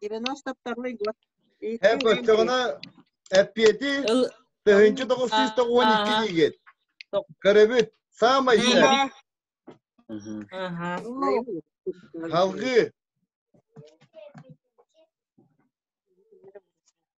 Девяносто год. Һэ көттөҕүнэ эппиэти тыһыынча тоҕус сүүс тоҕуон икки диигит. Көрөбүт. Саамай иһэ. Халгыы.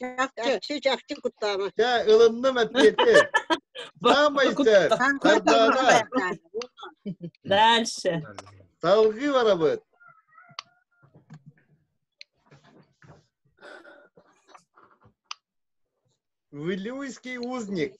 Чакчы, чакчы куттаама. Ча, ылынным ответы. Самай сэр, тогда Дальше. Долги барабыт. Вилюйский узник.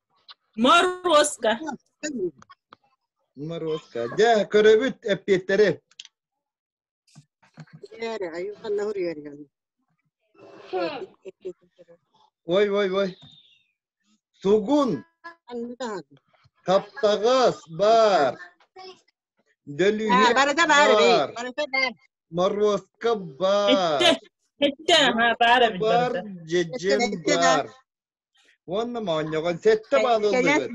Морозко. Морозко. Дьэ, көрөбүт эппиэттэри. Ой, ой, ой. Сугун. Таптагас бар. Дөлүһэ барада бар. Барата бар. Морозко бар. Этте. Этте. Бар, дьэдьэн бар. Уонна моонньоҕон сэттэ баал ыллыгыт.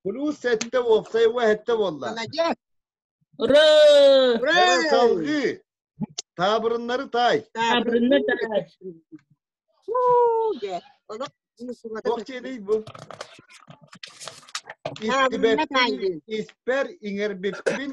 Кулуус сэттэ, уопсай уо сэттэ буолла. Ура! Ура! Салгыы! Таабырыннары таай. Таабырынны таай. Ох диэний бу? Испэр иҥэрбиппин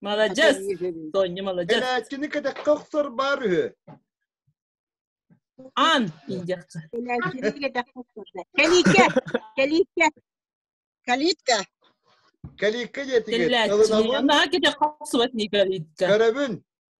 Молодец! Тоня, молодец! Элээчкини кэтэххэ охсор баар үһү. Ан, ийдиэххэ. Элээчкини кэтэххэ охсор. Калитка! Калитка! Калитка! Калитка диэтигит. Кэллээччи. Наһаа кэтэххэ охсубат ний калитка. Көрөбүн.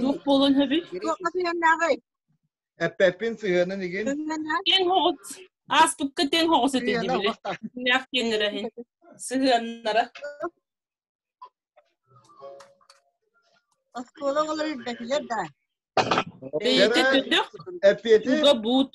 Туох буолан хэби? Туохха сыһыаннааҕый? Эппэппин сыһыанын игин. Киэн хоҕус. Аастукка тен хоҕус эти дибиле. Нәх киэннэрэ хин. Сыһыаннара. Оскуола олор үрбэтилэр да. Эппиэти буут.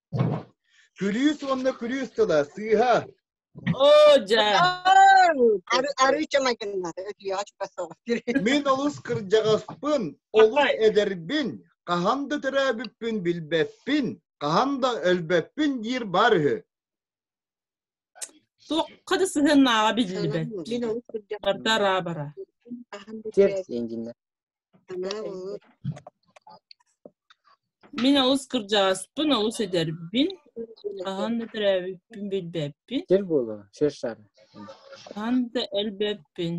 Күлүүс уонна күлүүс тыла, сыыһа. Оо, дьэ. Арыы чамайгыннары өтүйэҕэ чуга соҕус. Мин олус кырдьаҕаспын, олус эдэрбин, хаһан да төрөөбүппүн билбэппин, хаһан да өлбөппүн диир бар үһү. Суохха да сыһыаннааҕа биллибэт. Мин олус кырдьаҕастар аабара. Тиэрс диэн Мин олус кырдьаҕаспын, олус эдэрбин. Хаһан да төрөөбүппүн билбэппин. Сир буолуо, сир шары. Хаһан да элбэппин.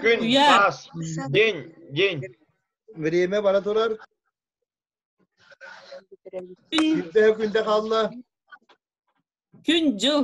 Күн, Уяр. тас, день, день. Время бара турар. Күн, Күндэһэ күндэ хаалла. күн, дьыл.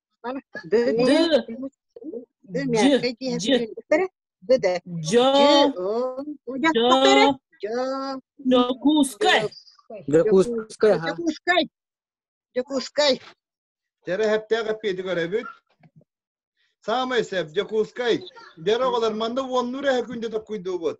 Дьы, дьы. Дьокуускай. Дьокуускай, ага. Дьокуускай. Дьокуускай. Терэһэптээх эппиэти көрөбүт. Саамай сеп, Дьокуускай. Дэр оҕолор манна уоннуур эһэ күндэ токкуйдуубут.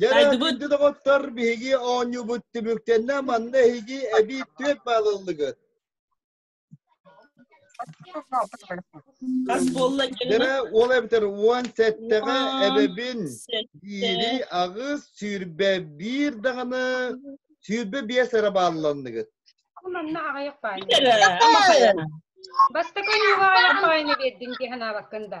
Дайдыбыт доҕоттор биһиги оонньуубут түмүктэннэ манна эһиги эбии түөт баалыллыгыт. Хас буолла Дэрэ ол эбитэр уон сэттэҕэ эбэбин диири аҕыс сүүрбэ биир даҕаны сүүрбэ биэс эрэ баалланныгыт. Манна аҕайах бааллы. Бастакы ньыылаҕа яппаайны бердин ди санаабаккын да.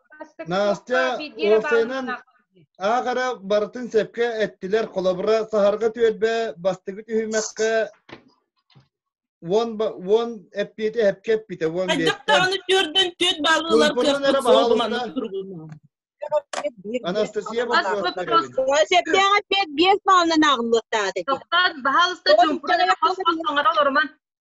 Настя уопсайынан аахара барытын сөпкө эттилэр холобура саһарга түөлбэ бастыгы түһүмэххэ уон уон эппиэти эпке эппитэ уон биэттэ он үтүөрдөн түөт балылар кыахпыт суолуманна Анастасия Сөптөөх эппиэт биэс маалынан ааҕыллыахтаата. Тоқтат, баһаалыста чуумпуран хос-хос оңора олорман.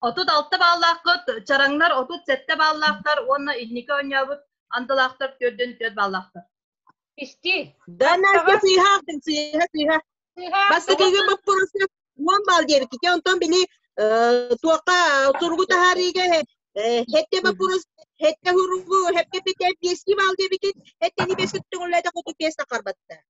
Отут алта бааллааххыт, чараҥнар отут сэттэ бааллаахтар уонна инники оонньообут андылаахтар түөрдүн түөрт бааллаахтар. Исти. Да, Настя, сыыһа, сыыһа, сыыһа. Бастакыга боппуруска уон баал диэбикки, онтон били туохха суругу таһаарыыга Хетте баппурус, хетте хуругу, хепке пите, биэски баал диэбиккит, хеттени бес күттүгүллэде хоту пес тақарбатта.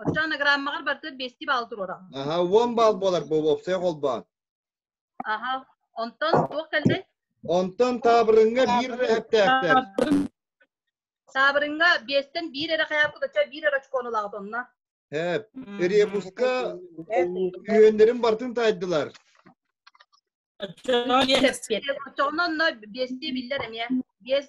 Оттон анаграммаҕар барыта биэсти баал туруора. Аха, уон баал буолар бу уопсай холбоон. Аха, онтон туох кэлди? Онтон таабырынга биир эһэптээктэр. Таабырынга биэстен биир эрэ хаярку дача биир эрэ очконулаҕыт онна. Эп, ребуска үөннэрин бартын тайдылар. Оччоҕун онно биэсти биллэр эмиэ. Биэс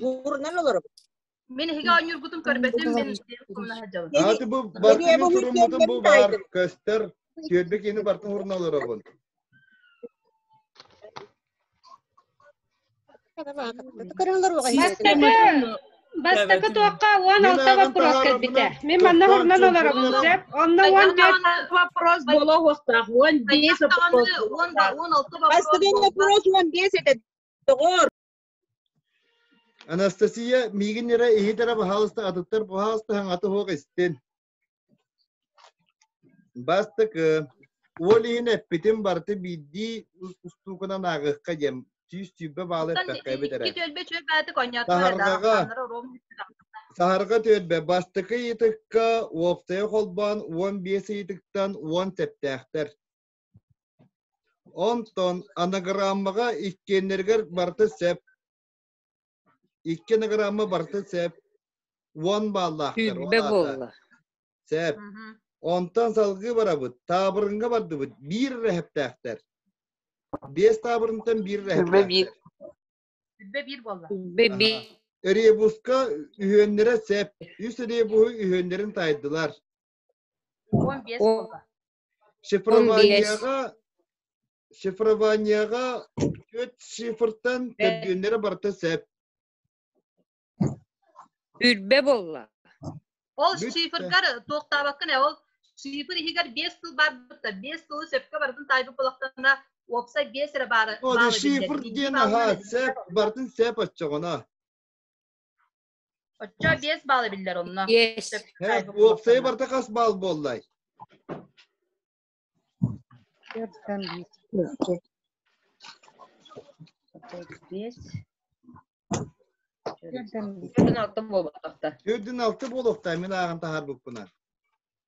Буурунан олоробут. Мен иһиги оонньуургутун көрбөтүм, мен комнаһа дьалын. Аты бу бартымын туруммутун бу баар көстөр, түөрбе киһини бартын урна олоробун. Бастакы туохха уон алтыва курос кэлбитэ. Мен манна хурнан олоробун сөп. Онно уон бет вопрос бола уохтаах. Уон бес вопрос. Бастакы вопрос уон бес это доҕор. Анастасия, миигин эрэ иһит эрэ баһаалыста атыттар баһаалыстаһаҥ аты суох истин. Бастакы, уол иһин эппитим барыта биирдии устуукунан ааҕыахха диэн сүүс сүүрбэ баалы эттэххэ эбит эрэ. Саһарга түөлбэ бастакы ыйытыкка уоптайа холбоон уон биэс ыйытыктан уон сэптээхтэр. Онтон анаграммаҕа иккиэннэригэр барыта сэп. Икки анаграмма барыта сэп. Уон бааллаахтар. Сүүрбэ буолла. Сэп. Онтон салгыы барабыт. Таабырынга бардыбыт. Биир рэһэптээхтэр. Биэс таабырынтан биир рэһэптээхтэр. Сүүрбэ биир буолла. Сүүрбэ биир. Ребуска үһүөннэрэ сэп. Үс ребуһу үһүөннэрин тайдылар. Он бес буолла. Шифрованияҕа шифрованияҕа төрт шифртан төрдүөннэрэ барыта сөп. Үрбэ буолла. Ол шифргар тоқтабаккын ол шифр иһигэр бес сыл барбыта бес сылы сөпкө бардын тайбы болақтана опса бес эрэ бары шифр диэн аха сэп бартын сэп оччоҕуна Оччо биэс баал эбиллэр онно. Биэс. Э, уопсайы барда хас баал буоллай? Төртөн биир. Биэс. Төртөн алты буолбатахта. Төрдүн алты буолуохтай, мен ааҕан таһарбыппынан.